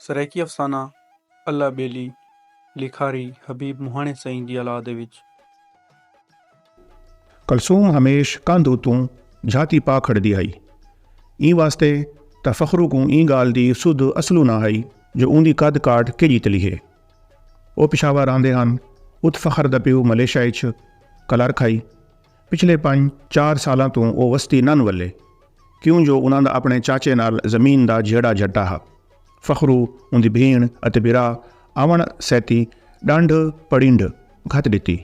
سرائیکی افسانہ اللہ ٻیلی لکھاری حبیب مہاݨے سئیں دی اولاد وچ۔ کلثوم ہمیش کندھ اتوں جھاتی پا کھڑدی ہئی۔ ایں واسطے تاں فخرو کوں ایں ڳالھ دی سدھ اصلوں نہ ہئی جو اوندی قد کاٹھ کیجھی تلی ہے۔ او پشاور رہندے ہن، ات فخر دا پیو ملیشا اچ کلرک ہئی۔ پچھلے پنج چار سالاں توں او وستی نن ولے کیوں جو انہاں دا اپݨے چاچے نال زمین دا جھیڑا جھٹا ہا۔ فخرو، اوندی بھیݨ اتے بھرا آوݨ سیتی ݙانڈھ پڑینڈھ گھت ݙتی۔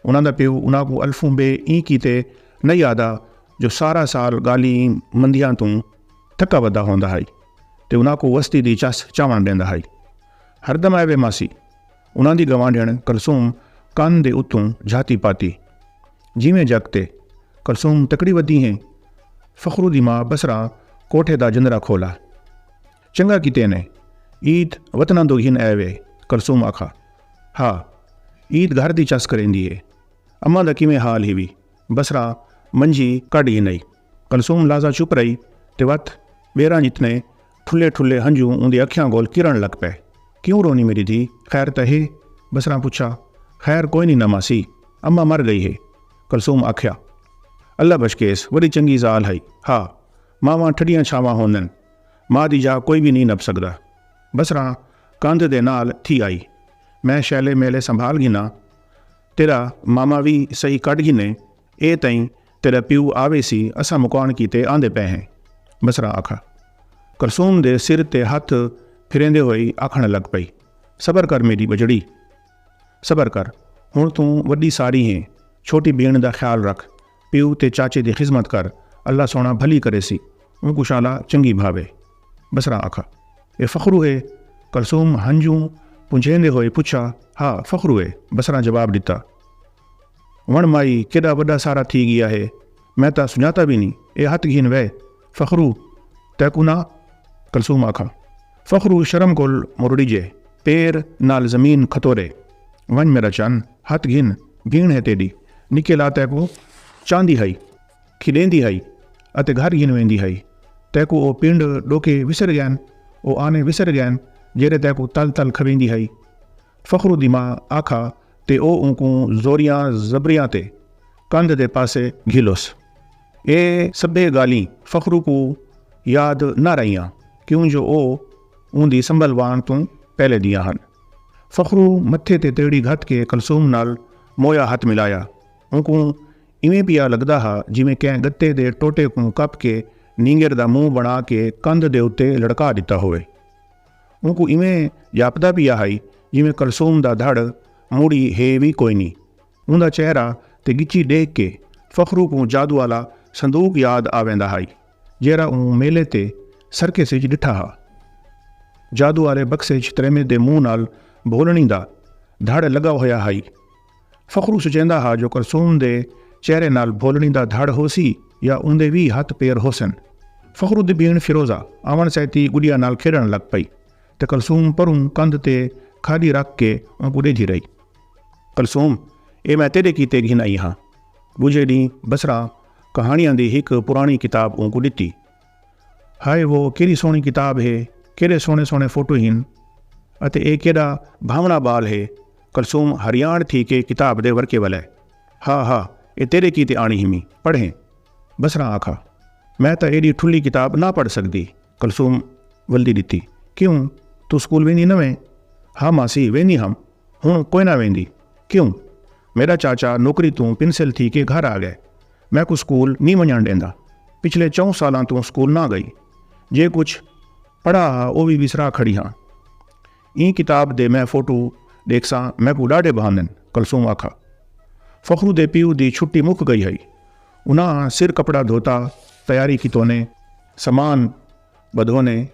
انہاں دا پیو انہاں کوں الفوں بے ایں کیتے نئیں آہدا جو سارا سال ڳالھیں مندھیاں توں تھکا ودا ہوندا ہئی تے انہاں کوں وستی دی چس چاوݨ ݙیندا ہئی۔ ہردم آئے وے ماسی! انہاں دی گوانڈھیݨ کلثوم کن دے اتوں جھاتی پاتی۔ جیویں جگ تے کلثوم تکڑی ودی ہیں، فخرو دی ماء بصرہ کوٹھے دا جندرا کھولا۔ چنگا کیتے نے عید وطناں دو گھن اے وے کلثوم آکھا ہا عید گھر دی چس کریندی اے۔ اماں دا کیویں حال ہیوی بصرہ منجھی کڈھ گھنئی۔ کلثوم لحظہ چپ رہی تے وت ٻیراں جتنے ٹھلے ٹھلے ہنجو اوندی اکھیاں کول کرݨ لگ پئے۔ کیوں رونی میݙی دھی؟ خیر تاں ہے؟ بصرہ پچھا۔ خیر کوئی نی ناں ماسی، اماں مر ڳئی ہے۔ کلثوم آکھیا۔ اللہ بشکیس وݙی چنڳی ذال ہئی۔ ہا ماواں ٹھڈیاں چھاواں ہوندن۔ ماء دی جاہ کوئی وی نی نب سڳدا۔ بصرہ کندھ دے نال تھی آئی۔ میں شیلے میلے سنبھال گھناں۔ تیݙا ماما وی سہی کڈھ گھنے اے تئیں تیݙا پیو آویسی اساں مکاوݨ کیتے آندے پئے ہیں بصرہ آکھا۔ کلثوم دے سر تے ہتھ پھریندے ہوئی آکھݨ لڳ پئی صبر کر میݙی ٻڄڑی صبر کر ہݨ توں وݙی ساری ہیں چھوٹی بھیݨ دا خیال رکھ پیو تے چاچے دی خذمت کر اللہ سوہݨا بھلی کریسی اونکوں شالا چنڳی بھاوے بصرہ آکھا۔ اے فخرو ہے؟ کلثوم ہنجوں پنجھیندے ہوئے پچھا۔ ہا فخرو ہے بصرہ جواب ݙتا۔ ون مائی کیݙا وݙا سارا تھی ڳیا ہے میں تاں سنڄاتا وی نی اے ہتھ گھن وے فخرو تیکوں نہ کلثوم آکھاں فخرو شرم کول مرڑیجے پیر نال زمین کھتورے ونڄ میݙا چن ہتھ گھن بھیݨ ہے تیݙی نکے لا تیکوں چاہندی ہئی کھیݙیندی ہئی اتے گھر گھن ویندی ہئی تیکوں او پنڈ ݙوکے وسر ڳین او آنے وسر ڳین جیڑھے تیکوں تل تل کھویندی ہئی فخرو دی ماء آکھا تے او اونکوں زوریاں زبریاں تے کندھ دے پاسے گھلوس۔ اے سبھے گالھیں فخرو کوں یاد نہ رہیاں کیوں جو او اوندی سنبھل وان توں پہلے دیاں ہن۔ فخرو متھے تے تیڑی گھت کے کلثوم نال مویا ہتھ ملایا۔ اونکوں ایویں پیا لگدا ہا جیویں کہیں گتے دے ٹوٹے کوں کپ کے نینگر دا منہ بنا کے کندھ دے اتے لڑکا ڈتا ہووے۔ اونکوں ایویں جاپدا پیا ہئی جیویں کلثوم دا دھڑ مڑی ہے وی کوئی نی۔ اوندا چہرہ تے گچی ڈیکھ کے فخرو کوں جادو آلا صندوق یاد آویندا ہئی جیرھا اوں میلے تے سرکس اچ ڈٹھا ہا۔ جادو آلے بکسے اچ تریمت دے منہ نال بھولنڑیں دا دھڑ لگا ہویا ہئی۔ فخرو سوچیندا ہا جو کلثوم دے چہرے نال بھولنی دا دھڑ ہوسی یا اوندے وی ہتھ پیر ہوسن۔ فخرو دی بھیݨ فیروزہ آوݨ سیتی گڈیا نال کھیݙݨ لڳ پئی تے کلثوم پروں کندھ تے کھاݙی رکھ کے اونکوں ݙیجھی رہی۔ کلثوم! ایہ میں تیݙے کیتے گھن آئی ہاں۔ ݙوجھے ݙینہہ بصرہ کہاݨیاں دی ہک پراݨی کتاب اونکوں ݙتی۔ ہائے وہ کیݙی سوہݨی کتاب ہے، کیݙے سوہݨے سوہݨے فوٹو ہن اتے ایہ کیݙا بھانوݨا ٻال ہے کلثوم حریان تھی کے کتاب دے ورقے ولے ہا ہا ایہ تیݙے کیتے آݨی ہمی پڑھیں بصرہ آکھا میں تاں ایݙی ٹھلی کتاب نہ پڑھ سڳدی کلثوم ولدی ݙتی کیوں توں سکول ویندی نہ ویں ہا ماسی ویندی ہم ہݨ کوئنہ ویندی کیوں میݙا چاچا نوکری توں پنسل تھی کے گھر آڳئے میکوں سکول نی ونجنڑ ڈیندا۔ پچھلے چہوں سالاں توں سکول نہ گئی۔ جے کچھ پڑھا ہا او وی وسرا کھڑی ہاں۔ ایں کتاب دے میں فوٹو ڈیکھساں میکوں ڈاڈھے بھاندن، کلثوم آکھا۔ فخرو دے پیو دی چھٹی مک گئی ہئی۔ انہاں سر کپڑا دھوتا، تیاری کیتونیں، سامان بدھونیں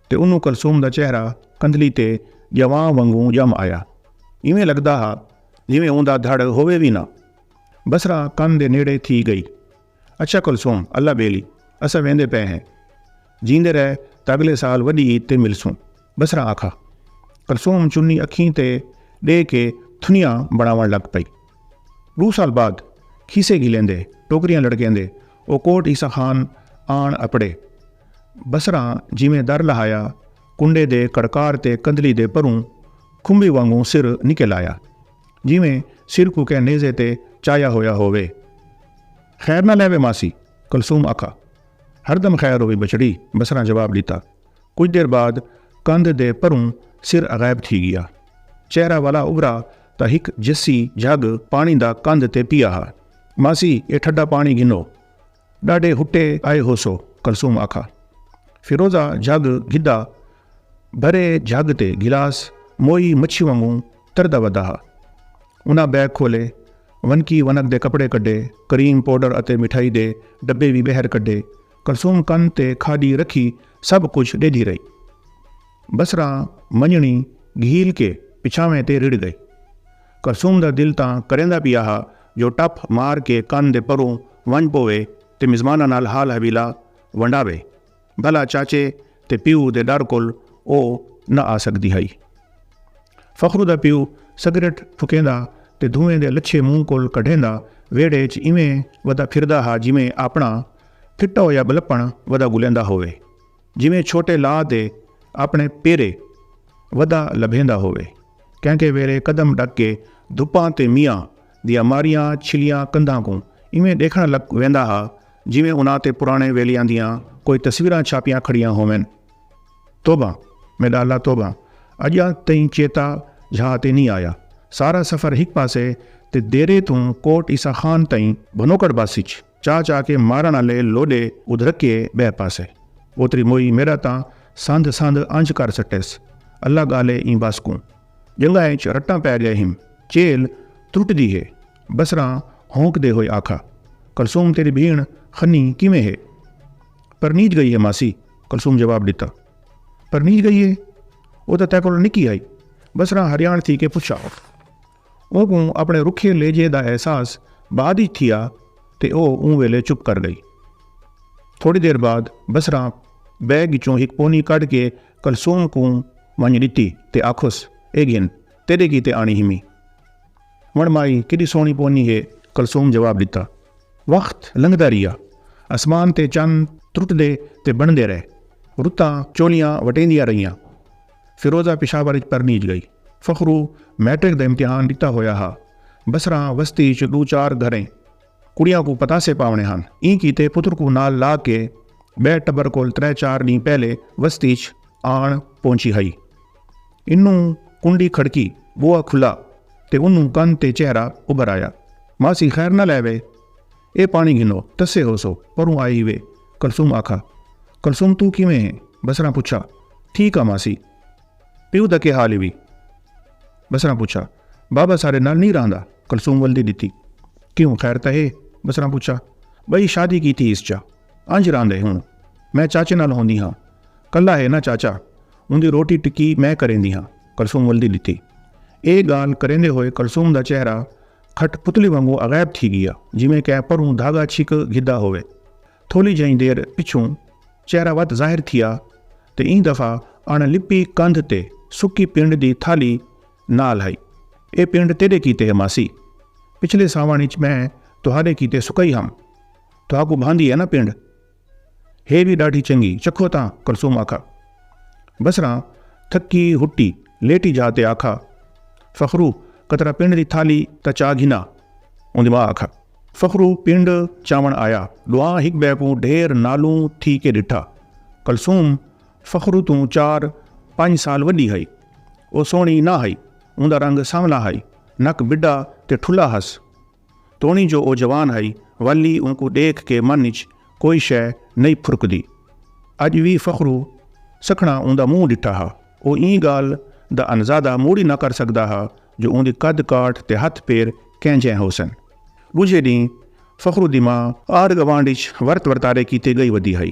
تے انہوں کلثوم دا چہرہ کندھلی تے جواں ونگوں جم آیا۔ ایویں لگدا ہا جیویں اوندا دھڑ ہووے وی نہ۔ بصرہ کن دے نیڑے تھی گئی۔ اچھا کلثوم اللہ بیلی اساں ویندے پئے ہیں۔ جیندے رہ تاں اگلے سال وڈی عید تے ملسوں۔ بصرہ آکھا۔ کلثوم چنی اکھیں تے ڈے کے تھنیاں بنڑاون لگ پئی۔ ڈو سال بعد کھیسے گھلیندے ٹوکریاں لڑکیندے او کوٹ عیسی خان آن اپڑے۔ بصرہ جیویں در لہایا کنڈے دے کڑکار تے کندھلی دے پروں کھمبی وانگوں سر نکل آیا۔ جیویں سر کوں کہیں نیزے تے چایا ہویا ہووے۔ خیر نہ لیوے ماسی، کلثوم آکھا۔ ہردم خیر ہووی بچڑی، بصرہ جواب ݙتا۔ کجھ دیر بعد کندھ دے پروں سر غائب تھی ڳیا۔ چہرہ والا ابھرا تاں ہک جسی جھڳ پاݨی دا کندھ تے پیا ہا۔ ماسی، ایہ ٹھڈا پاݨی گھنو۔ ݙاڈھے ہٹے آئے ہوسو کلثوم آکھا فیروزہ جھڳ گھدا بھرے جھڳ تے گلاس موئی مچھی وانگوں تردا ودا ہا انہاں بیگ کھولے ونکی ونک دے کپڑے کڈھے کریم پوڈر اتے مٹھائی دے ڈبے وی بہر کڈھے کلثوم کن تے کھاڈی رکھی سب کجھ ڈیدھی رہی بصرہ منجنڑی گھیل کے پچھاویں تے رڑھ گئی کلثوم دا دل تاں کریندا پیا ہا جو ٹپ مار کے کن دے پروں ونج پووے تے مزماناں نال حال حویلا ونڈاوے بھلا چاچے تے پیو دے ڈر کول او نہ آ سگدی ہئی۔ فخرو دا پیو سگریٹ پھکیندا تے دھوئیں دے لچھے منہ کول کڈھیندا ویڑھے اچ ایویں ودا پھردا ہا جیویں آپنڑاں پھٹا ہویا بلپنڑ ودا گلیندا ہووے۔ جیویں چھوٹے لا دے اپݨے پیرے ودا لبھیندا ہووے۔ کہیں کہیں ویلے قدم ݙک کے دھپاں تے میاں دیاں ماریاں چھلیاں کندھاں کوں ایویں ݙیکھݨ لگ ویندا ہا جیویں انہاں تے پراݨے ویلیاں دیاں کوئی تصویراں چھاپیاں کھڑیاں ہوون۔ توبہ میݙا اللہ توبہ اڄ تئیں چیتا جھا تے نی آیا۔ سارا سفر ہک پاسے تے دیرے توں کوٹ عیسی خان تئیں بھنوکڑ بس اچ چا چا کے مارݨ آلے لوݙے ادھرکیے ٻئے پاسے اوتری موئی میݙا تاں سندھ سندھ انج کر سٹیس اللہ ڳالے ایں بس کوں ڄنگھاں اچ رٹاں پئے ڳئے ہیم چیل ترٹدی ہے بصراں ہونکدے ہوئے آکھا کلثوم تیݙی بھیݨ خنی کیویں ہے پرنیج ڳئی ہے ماسی کلثوم جواب ݙتا پرنیج ڳئی ہے او تاں تیکول نکی ہئی بصراں حریان تھی کے پچھا۔ اونکوں اپݨے رکھے لہجے دا احساس بعد اچ تھیا تے او اوں ویلے چپ کر ڳئی۔ تھوڑی دیر بعد بصرہ بیگ اچوں ہک پونی کڈھ کے کلثوم کوں ونڄ ݙتی تے آکھس اے گھن تیݙے کیتے آݨی ہیمی۔ وݨ مائی کیݙی سوہݨی پونی ہے کلثوم جواب ݙتا۔ وخت لنگھدا ریہا۔ اسمان تے چن ترٹدے تے بݨدے رہے۔ رتاں چولیاں وٹیندیاں رہیاں۔ فیروزہ پشاور اچ پرنیج گئی۔ فخرو میٹرک دا امتحان ڈتا ہویا ہا۔ بسراں وستی اچ ڈو چار گھریں کڑیاں کوں پتاسے پاونے ہن۔ ایں کیتے پتر کوں نال لا کے بئے ٹبر کول ترے چار ڈینھ پہلے وستی اچ آن پہنچی ہئی۔ انوں کنڈی کھڑکی، بوا کھلا تے انوں کن تے چہرہ ابھر آیا۔ ماسی خیر نال ایوے؟ اے پاݨی گھنو، ٹسے ہوسو، پروں آئے ہیوے، کلثوم آکھا۔ کلثوم توں کیویں ہیں؟ بصرہ پچھا۔ ٹھیک آں ماسی۔ پیو دا کے حال ہیوی؟ بصرہ پچھا۔ بابا ساݙے نال نی رہندا، کلثوم ول دی ݙتی۔ کیوں خیر تاں ہے؟ بصرہ پچھا۔ ٻئی شادی کیتی ہیس چا انج رہندے ہن، میں چاچے نال ہوندی ہاں، کلھا ہے نا چاچا، اوندی روٹی ٹکی میں کریندی ہاں، کلثوم ول دی ݙتی۔ اے ڳالھ کریندے ہوئے کلثوم دا چہرہ۔ کھٹ پتلی وانگوں اغیب تھی گیا جیویں کہیں پروں دھاگا چھک گھدا ہووے۔ تھولی جئیں دیر پچھوں چہرہ وت ظاہر تھیا تے ایں دفعہ اݨ لپی کندھ تے سکی پنڈ دی تھالی نال ہئی۔ اے پنڈ تیݙے کیتے ہے ماسی۔ پچھلے ساوݨ اچ میں تہاݙے کیتے سکائی ہم۔ تہاکوں بھاندی ہے ناں پنڈ؟ ہے وی ݙاڈھی چنڳی، چکھو تاں، کلثوم آکھا۔ بصرہ تھکی ہٹی لیٹی جا تے آکھا، فخرو قطرہ پنڈ دی تھالی تاں چا گھنا، اوندی ماء آکھا۔ فخرو پنڈ چاوݨ آیا، ݙوہاں ہک ٻئے کوں ڈھیر نالوں تھی کے ݙٹھا۔ کلثوم فخرو توں چار پنڄ سال وݙی ہئی۔ او سوہݨی نہ ہئی، اوندا رنگ سانولا ہئی، نک بڈا تے ٹھلا ہس۔ توݨی جو او جوان ہئی ولی اونکوں ݙیکھ کے من اچ کوئی شئے نئیں پھرکدی۔ اڄ وی فخرو سکھڑاں اوندا منہ ݙٹھا ہا۔ او ایں ڳالھ دا انزادہ موڑی نہ کر سڳدا ہا جو اوندی قد کاٹھ تے ہتھ پیر کینجھیں ہوسن۔ ݙوجھے ݙینہہ فخرو دی ماء آر گوانڈھ اچ ورت ورتارے کیتے ڳئی ودی ہئی۔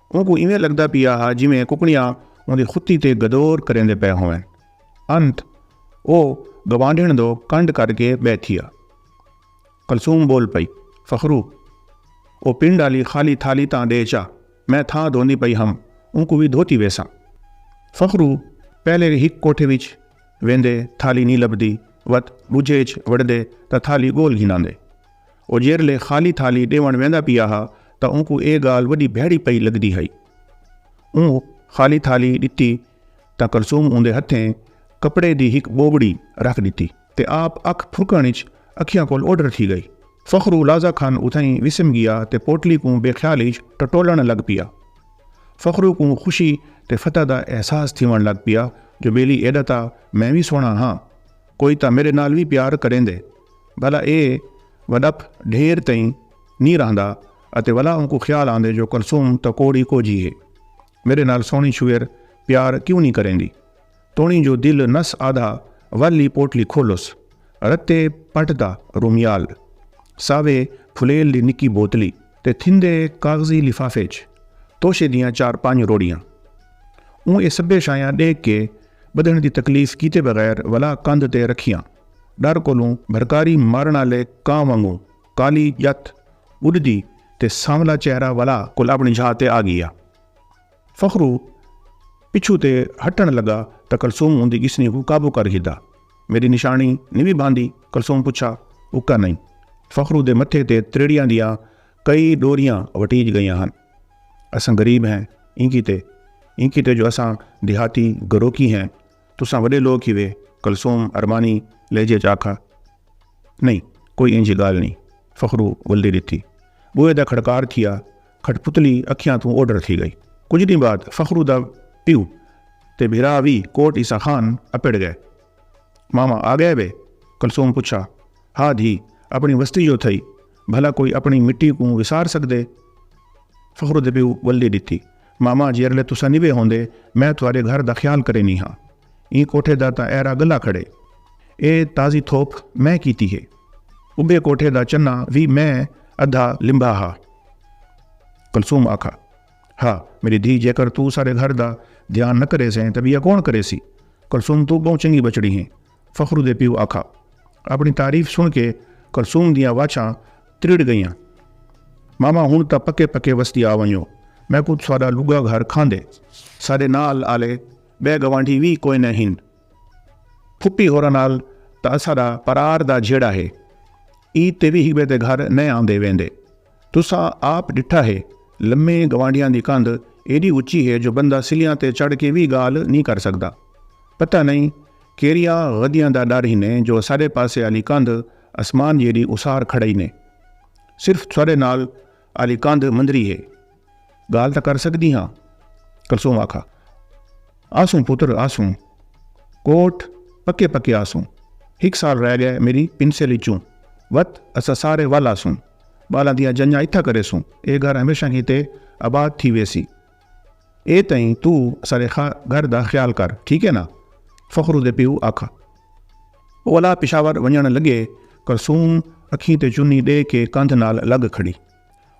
اونکوں ایویں لگدا پیا ہا جیویں ککڑیاں اوندی ختی تے گدور کریندے پئے ہوون۔ انت او گوانڈھن دو کنڈ کر کے بہہ تھیا۔ کلثوم بول پئی، فخرو! او پنڈ آلی خالی تھالی تاں ڈے چا، میں تھاں دھوندی پئی ہم، اونکوں وی دھوتی ویساں۔ فخرو پہلے ہک کوٹھے وچ ویندے تھالی نی لبھدی وت ڈوجھے اچ وڑدے تاں تھالی گول گھن آندے۔ او جیرھلے خالی تھالی ڈیونڑ ویندا پیا ہا تاں اونکوں اے گالھ وڈی بھیڑی پئی لگدی ہئی۔ اوں خالی تھالی ڈتی تاں کلثوم اوندے ہتھیں کپڑے دی ہک بوبڑی رکھ ڈتی تے آپ اکھ پھرکݨ اچ اکھیاں کول اوڈھر تھی گئی۔ فخرو لازہ کھن اتھائیں وسم گیا تے پوٹلی کوں بے خیالی اچ ٹٹولݨ لگ پیا۔ فخرو کوں خوشی تے فتح دا احساس تھیونڑ لگ پیا جو بیلی ایڈا تاں میں وی سوہݨا ہاں کوئی تاں میڈے نال وی پیار کریندے بھلا اے وڈپ ڈھیر تئیں نی رہندا اتے ولا اونکوں خیال آندے جو کلثوم تاں کوڑی کوجھی ہے میڈے نال سوہنی چھویر پیار کیوں نی کریندی توڑیں جو دل نس آدھا ول لی پوٹلی کھولس رتے پٹ دا رومیال ساوے پھلیل دی نکی بوتلی تے تھیندے کاغذی لفافے اچ توشے دیاں چار پنج روڑیاں۔ اوں ایہ سبھے شائیاں ݙیکھ کے ٻدھݨ دی تکلیف کیتے بغیر ولا کندھ تے رکھیاں۔ ݙر کولوں بھرکاری مارݨ آلے کاں وانگوں کالی ڄت اݙدی تے سانولا چہرہ ولا کول اپݨی جھا تے آ ڳیا۔ فخرو پچھوں تے ہٹݨ لڳا تاں کلثوم اوندی ڳسنی کوں قابو کر گھدا۔ میݙی نشانی نوی بھاندی؟ کلثوم پچھا۔ اکا نئیں۔ فخرو دے متھے تے تریڑیاں دیاں کئی ݙوریاں وٹیج ڳئیاں ہن۔ اساں غریب ہیں ایں کیتے؟ ایں کیتے جو اساں دیہاتی گروکی ہیں؟ تساں وݙے لوک ہیوے؟ کلثوم ارمانی لہجے ءچ آکھا۔ نئیں کوئی اینجھی ڳالھ نئیں۔ فخرو ولدی ݙتی۔ ٻوہے دا کھڑکار تھیا۔ کھٹپتلی اکھیاں توں اوڈھر تھی گئی۔ کجھ ڈینھ بعد فخرو دا پیو تے بھرا وی کوٹ عیسی خان اپڑ گئے۔ ماما آ گئے وے؟ کلثوم پچھا۔ ہا دھی، اپنی وستی جو تھئی، بھلا کوئی اپنی مٹی کوں وسار سگدے؟ فخرو دے پیو ولدی ڈتی۔ ماما جیرلے تساں نیوے ہوندے میں تھوارے گھر دا خیال کرینی ہاں۔ ایں کوٹھے دا تاں ایرا گلا کھڑے۔ اے تازی تھوپ میں کیتی ہے۔ اوندے کوٹھے دا چناں وی میں ادھا لمبھا ہا۔ کلثوم آکھا ہا میڈی دھی جیکر توں سارے گھر دا دھیان نہ کریسیں تاں بیا کون کریسی۔ کلثوم توں بہوں چنگی بچڑی ہیں۔ فخرو دے پیو آکھا۔ اپنی تعریف سن کے کلثوم دیاں واچھاں تریڑ گئیاں۔ ماما ہن تاں پکے پکے وستی آ ونجو۔ میکوں تساڈا لگا گھر کھاندے۔ ساڈے نال آلے بئے گوانڈھی وی کوئنہ ہن۔ پھپھی ہوراں نال تاں اساݙا پرار دا جھیڑا ہے۔ ای تے وی ہک ٻئے دے گھر نئیں آندے ویندے۔ تساں آپ ݙٹھا ہے لمے گوانڈھیاں دی کندھ ایݙی اچی ہے جو بندہ سلیاں تے چڑھ کے وی ڳالھ نی کر سڳدا۔ پتہ نئیں کیریاں غدیاں دا ݙر ہنے جو اساݙے پاسے آلی کندھ اسمان جیݙی اسار کھڑئینے۔ صرف تھوڑے نال آلی کندھ مندری ہے۔ گال تاں کر سکدی ہاں کلثوم آکھا آسوں پتر آسوں کوٹ پکے پکے آسوں ہک سال رہ گئے میری پنسل اچوں وت اسا سارے ول آسوں بالاں دیاں جنجاں اتھا کریسوں اے گھر ہمیشہ کیتے آباد تھی ویسی اے تئیں تو سارے گھر دا خیال کر ٹھیک ہے نا فخرو دے پیو آکھا اولا پشاور ونجن لگے کلثوم اکھیں تے چنی ڈے کے کندھ نال لگ کھڑی۔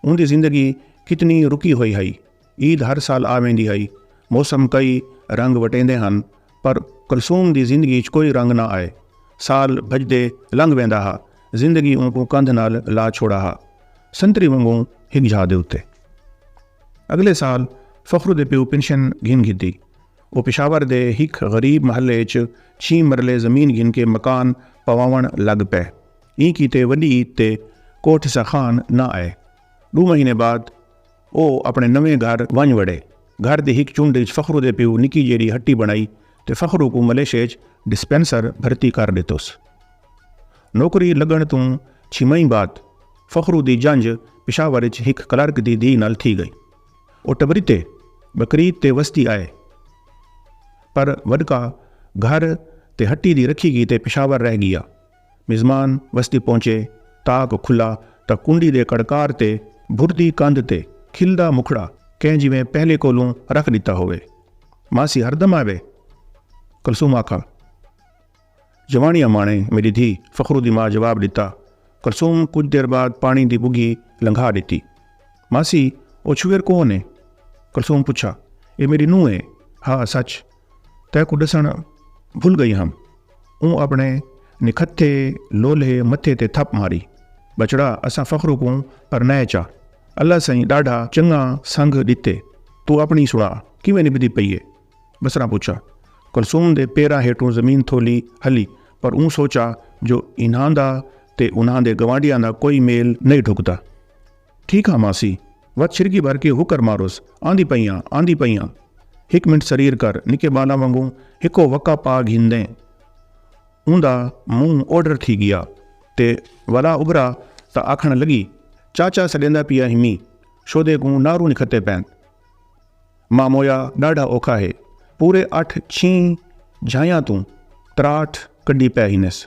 اوندی زندگی کتنی رکی ہوئی ہئی۔ عید ہر سال آ ویندی ہئی۔ موسم کئی رنگ وٹیندے ہن پر کلثوم دی زندگی اچ کوئی رنگ نہ آئے۔ سال بھڄدے لنگھ ویندا ہا۔ زندگی اونکوں کندھ نال لا چھوڑا ہا۔ سنتری ونگوں ہک جھا دے اتے۔ اگلے سال فخرو دے پیو پنشن گھن گھدی۔ او پشاور دے ہک غریب محلے اچ چھی مرلے زمین گھن کے مکان پواوݨ لڳ پئے۔ ایں کیتے وݙی عید تے کوٹھ سا خان نہ آئے۔ ݙو مہینے بعد او اپݨے نویں گھر ونڄ وڑے۔ گھر دی ہک چنڈ اچ فخرو دے پیو نکی جیڑھی ہٹی بݨائی تے فخرو کوں ملیشے اچ ڈسپنسر بھرتی کر ݙتوس۔ نوکری لڳݨ توں چھی مہین بعد فخرو دی جنج پشاور اچ ہک کلرک دی دھی نال تھی ڳئی۔ او ٹبریتے، بکریت تے وسدی آئے پر وݙکا گھر تے ہٹی دی رکھی کیتے پشاور رہ ڳیا۔ مزمان وستی پہنچے، تاک کھلا تاں کنڈی دے کڑکار تے بھردی کندھ تے کھلدا مکھڑا کہیں جیویں پہلے کولوں رکھ ݙتا ہووے۔ ماسی ہردم آوے؟ کلثوم آکھا۔ جوانی اماݨے میݙی دھی، فخرو دی ماء جواب ݙتا۔ کلثوم کجھ دیر بعد پاݨی دی ٻگھی لنگھا ݙتی۔ ماسی او چھوہر کون اے؟ کلثوم پچھا۔ اے میݙی نونہہ اے۔ ہا سچ! تیکوں ݙسݨ بھل ڳئی ہم۔ اوں اپݨے نکھتھے لولھے متھے تے تھپ ماری۔ ٻچڑا اساں فخرو کوں پرنائے چا۔ اللہ سئیں ݙاڈھا چنڳاں سنگھ ݙتے۔ توں اپݨی سݨا کیویں نبھدی پئی اے؟ بصرہ پچھا۔ کلثوم دے پیراں ہیٹھوں زمین تھولی ہلی پر اوں سوچا جو انہاں دا تے انہاں دے گوانڈیاں دا کوئی میل نئیں ڈھکدا۔ ٹھیک ہاں ماسی۔ وت چھرکی بھر کے ہوکر ماروس۔ آندی پئی آں، آندی پئی آں۔ ہک منٹ سریر کر، نکے بالاں وانگوں ہکو وکا پا گھندیں۔ اوندا منہ اوڈھر تھی گیا تے ولا ابھرا تاں آکھݨ لڳی، چاچا سݙیندا پیا ہمی، شودے کوں نارو نکھتے پئن۔ مامویا ڈاڈھا اوکھا ہے۔ پورے اٹھ چھیں جھایاں توں تراٹ کڈھی پے ہینس۔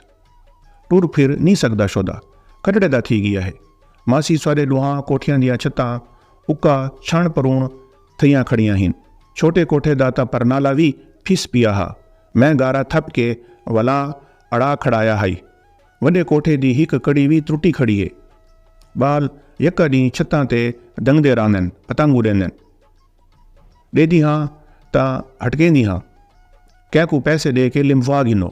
ٹر پھر نی سگدا شودا کٹڑے دا تھی گیا ہے۔ ماسی ساڈے ڈوہاں کوٹھیاں دیاں چھتاں اکا چھنڑ پرون تھیاں کھڑیاں ہین۔ چھوٹے کوٹھے دا تاں پرنالا وی پھس پیا ہا۔ میں گارا تھپ کے ولاں اڑا کھڑایا ہائی۔ وݙے کوٹھے دی ہک کڑی وی ترٹی کھڑی اے۔ ٻال یکا ݙینہہ چھتاں تے دنگدے رہندن، پتنگ اݙیندن۔ ݙیندی ہاں تاں ہٹکیندی ہاں، کیہے کوں پیسے ݙے کے لمبھوا گھنو،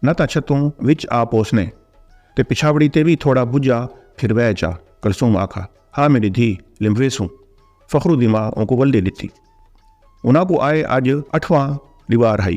نہ تاں چھتوں وچ آ پوسنے تے پچھاوڑی تے وی تھوڑا بجھا پھر وے چا۔ کلثوم آکھا ہا میݙی دھی لمبھویسوں۔ فخرو دی ماء اونکوں ولدی ݙتی۔ انہاں کوں آئے اڄ اٹھواں ݙیوار ہئی۔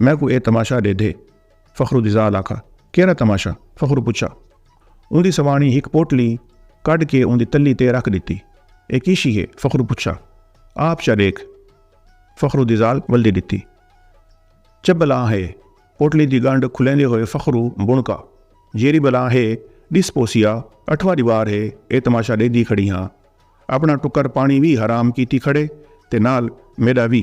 میکوں اے تماشا ڈیدھے۔ فخرو دی ذال آکھا، کیرھا تماشا؟ فخرو پچھا۔ اوندی سواݨی ہک پوٹلی کڈھ کے اوندی تلی تے رکھ ڈتی۔ اے کی شی ہے؟ فخرو پچھا۔ آپ چا ڈیکھ۔ فخرو دی ذال ولدی ڈتی۔ چبلاں ہے۔ پوٹلی دی گنڈھ کھلیندے ہوئے فخرو بݨکا۔ جیری بلاں ہے، ڈس پوسیا، اٹھواں دیوار ہے، اے تماشا ڈیدھی کھڑی ہاں۔ اپݨا ٹکر پاݨی وی حرام کیتی کھڑے تے نال میݙا وی۔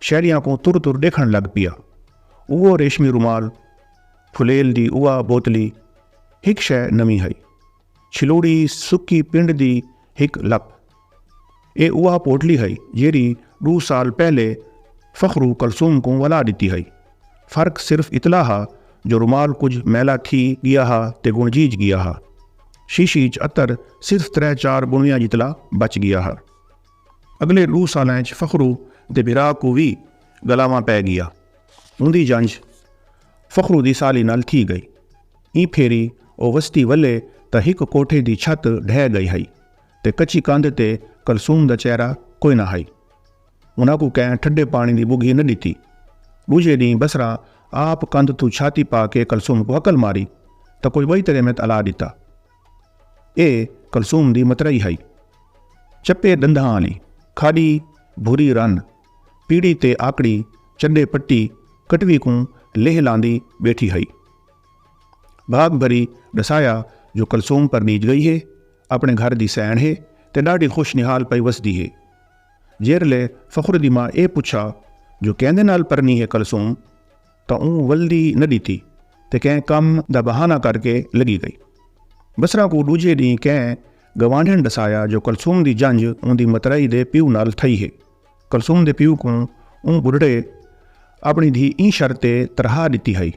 شیلیاں کوں تر تر ڈیکھن لگ پیا۔ اوہو ریشمی رومال، پھلیل دی اوہا بوتلی، ہک شے نویں ہئی۔ چھلوڑی سکی پنڈ دی ہک لپ۔ ایہ اوہا پوٹلی ہئی جیہڑی ڈو سال پہلے فخرو کلثوم کوں ولا ڈتی ہئی۔ فرق صرف اتلا ہا جو رومال کجھ میلا تھی گیا ہا تے گنجیج گیا ہا۔ شیشی اچ عطر صرف ترے چار بنویاں جتلا بچ گیا ہا۔ اگلے ڈو سالاں اچ فخرو دے بھرا کوں وی گلاواں پے گیا۔ اوندی جنج فخرو دی سالی نال تھی گئی۔ ایں پھیری او وستی ولے تاں ہک کوٹھے دی چھت ڈھے گئی ہئی تے کچی کندھ تے کلثوم دا چہرہ کوئی نہ ہئی۔ انہاں کوں کہیں ٹھڈے پانی دی بگھی نہ ڈتی۔ ڈوجھے ڈینہہ بصرہ آپ کندھ توں چھاتی پا کے کلثوم کوں ہکل ماری تاں کوئی بئی تریمت الا ڈتا۔ اے کلثوم دی مترئی ہئی۔ چپے ڈندھاں آلی کھاڈی بھوری رن پیڑی تے آکڑی چڈے پٹی کٹوی کوں لیہہ لاندی بیٹھی ہئی۔ بھاگ بھری ڈسایا جو کلثوم پرنیج گئی ہے اپنے گھر دی سئینڑ ہے تے ڈاڈھی خوش نہال پئی وسدی ہے۔ جیرلے فخر دی ماں اے پچھا جو کیندے نال پرنی ہے کلثوم؟ تاں اوں ولدی نہ ݙتی تے کہیں کم دا بہانہ کر کے لڳی ڳئی۔ بصرہ کوں ݙوجھے ݙینہہ کہیں گوانڈھݨ ݙسایا جو کلثوم دی جنج اوندی مترائی دے پیو نال تھئی ہے۔ کلثوم دے پیو کوں اوں ٻڈھڑے اپݨی دھی ایں شرط تے ترہا ݙتی ہئی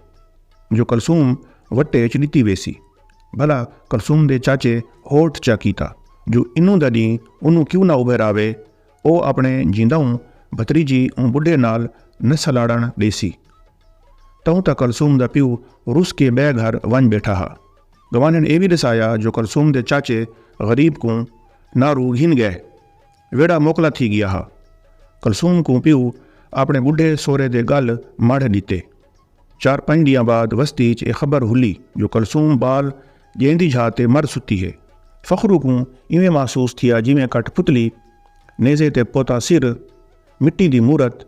جو کلثوم وٹے اچ ݙتی ویسی۔ بھلا کلثوم دے چاچے ہوٹ چا کیتا جو انوں دا ݙینہہ اونوں کیوں نہ ابھراوے او اپݨے جینداؤں بھتریجی اوں ٻڈھے نال نہ سلاڑݨ ݙیسی۔ تہوں تاں کلثوم دا پیو رس کے ٻئے گھر ونڄ ٻیٹھا ہا۔ گوانݙھن اے وی ݙسایا جو کلثوم دے چاچے غریب کوں ناں رو گھن ڳئے۔ ویڑھا موکلا تھی ڳیا ہا۔ کلثوم کوں پیو اپݨے ٻڈھے سورے دے ڳل مڑھ ݙتے۔ چار پنج ڈینہاں بعد وستی اچ اے خبر ہلی جو کلثوم بال جیندی جھا تے مر ستی ہے۔ فخرو کوں ایویں محسوس تھیا جیویں کٹھ پھتلی، نیزے تے پوتا سر، مٹی دی مورت،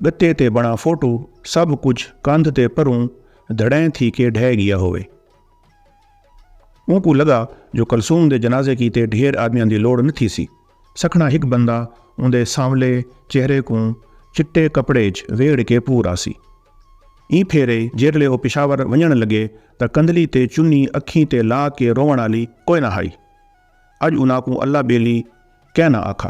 گتے تے بنڑا فوٹو سبھ کجھ کندھ تے پروں دھڑیں تھی کے ڈھے گیا ہووے۔ اونکوں لگا جو کلثوم دے جنازے کیتے ڈھیر آدمیاں دی لوڑ نہ تھیسی۔ سکھڑا ہک بندہ اوندے سانولے چہرے کوں چٹے کپڑے اچ ویڑھ کے پور آسی۔ ایں پھیرے جیرھلے او پشاور ونجنڑ لگے تاں کندھلی تے چنی اکھیں تے لا کے روونڑ آلی کوئے نہ ہائی۔ اج انہاں کوں اللہ بیلی کئے نہ آکھا۔